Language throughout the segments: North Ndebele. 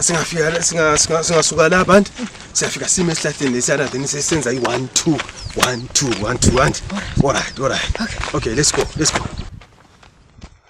singafika singasuka la bantu siyafika sime esihlahleni lesiyana then sesenza i-one two one two one two and all right all right okay let's go let's go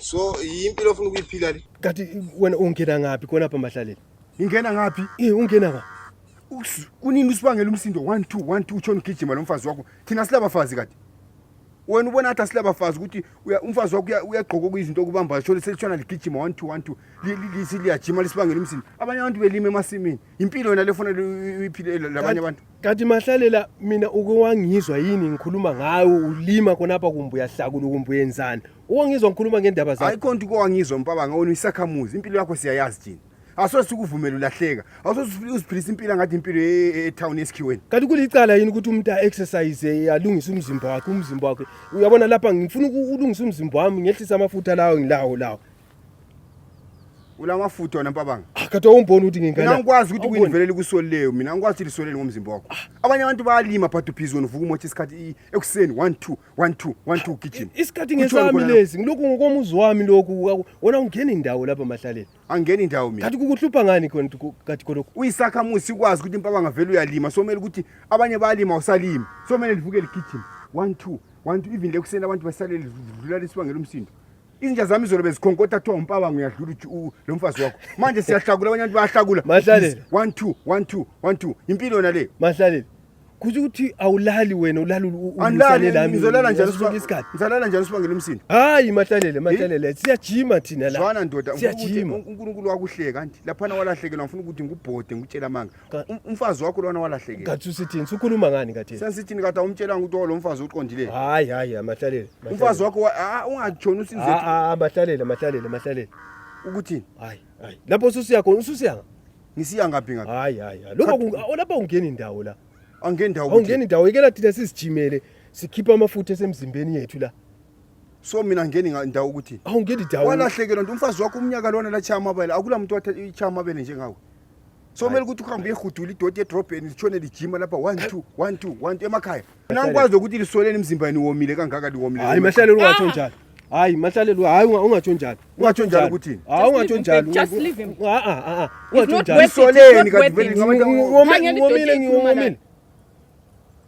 so yimpilo ofuna ukuyiphila le kati wena ungena ngaphi khona apha mahlaleni ingena ngaphi eh ungena ngaphi kunini usibangela umsindo 1 2 1 2 utshona ugijima lo mfazi wakho thina silabafazi kade wena ubona ngathi asilabafazi ukuthi umfazi wakho uyagqoka okuyizinto okubamba shole selitshona ligijima 1 2 1 2 lisiyajima lisibangela umsindo abanye abantu belima emasimini impilo yona lefanele uyiphile labanye abantu kanti mahlalela mina uke wangizwa yini ngikhuluma ngawe ulima khonapha kumbe uyahlakula kumbe uyenzani uwangizwa ngikhuluma ngendaba zakho ayikho nto ukwangizwa mpabanga wena uyisakhamuzi impilo yakho siyayazi thina asoze sikuvumele ulahleka asoze uziphilisa impilo ngathi impilo e- e- etown esikhiweni kanti kulicala yini ukuthi umuntu a-exercise alungise umzimba wakhe umzimba wakhe uyabona lapha ngifuna uku- ulungisa umzimba wami ngehlisa amafutha lawo ngilawo lawo ulamafutha wona mpabanga ah, kade awumboni ukuthi ngingana mina ngikwazi ukuthi kuyinivelela ikusoli leyo mina ngikwazi ukuthi lisolele ngomzimba wakho ah. abanye abantu bayalima but ubhizi wena uvuka umotha isikhathi ekuseni 1 2 1 2 1 2 ugijima isikhathi ngesami lesi ngilokhu ngokomuzi wami lokhu wena ungena indawo lapha mahlaleni angena indawo mina kade kukuhlupha ngani khona kade khona uyisakhamuzi sikwazi ukuthi mpabanga vele uyalima somele ukuthi abanye bayalima usalima somele livuke ligijima 1 2 1 2 even lekuseni abantu basalele dlula lisibangela umsindo izinja zami izolo bezikhonkotha kuthiwa umpaba ngiyadlula lo mfazi wakho manje siyahlakula abanye abantu bayahlakula Mahlalele. one two one two one two impilo yona le mahlalele kusho ukuthi awulali wena ulali ulu- u- andilali ulusane lami ngizolala njani ngaso sonke isikhathi ngizolala njani sibangela umsindo hayi mahlalele mahlalele siyajima thina la zwana ndoda ngifuna ukuthi siyajima unkulunkulu wakuhleka kanti laphana walahlekelwa ngifuna ukuthi ngikubhode ngikutshela amanga Ka- Um- umfazi wakho lona walahlekela Kathi usithini? Sukhuluma ngani kathi? sensithini kade awumtshelanga ukuthi olo mfazi uqondile Hayi hayi amahlalele. umfazi wakho wa- ah, ungatshoni Ah usinzethu ah amahlalele amahlalele amahlalele. ukuthini Hayi hayi. Lapho ususiya khona ususiya. nga- ngisiya ngaphi ngaphi Hayi hayi. hayi. Lokho kunga- oh, lapha ungena indawo la. angendawo ukuthi Awungena indawo ikela thina sizijimele sikhipha amafutha esemzimbeni yethu la. so mina ngeni nga- ndawo ukuthi Awungena indawo. walahlekelwa nto umfazi wakho umnyaka lona latshiya amabele akula muntu watshaya amabele njengawe somele ukuthi uhambe uyehudula idoti edrobheni litshone lijima lapha one two one two one two emakhaya nangikwazi ukuthi lisoleni emzimbani womile kangaka liwomile hayi mahlalelo ungatsho njalo hayi mahlalelo hayi ungatsho njalo ungatsho njalo ukuthini hayi ungatsho njalo ungatsho njalo lisoleni kanti vele ngomile ngiwomile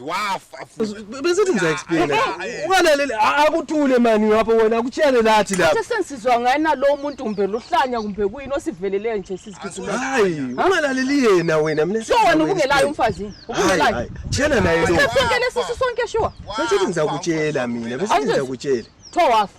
wafa futhi besithi ngiza explain ungalaleli akuthule mani lapho wena akutshele lathi lapho Kuthe sensizwa ngayena lo muntu kumbe luhlanya kumbe kuyini osivelele nje sizigijimela. hayi ungalaleli yena wena mina Sure wena ubungelayo umfazi. Hayi, Ubungelayo. hayi. tshela naye lo Sonke lesi sonke sure. besithi ngizakutshela mina besithi Angithi- ngizakutshela Tho wafa.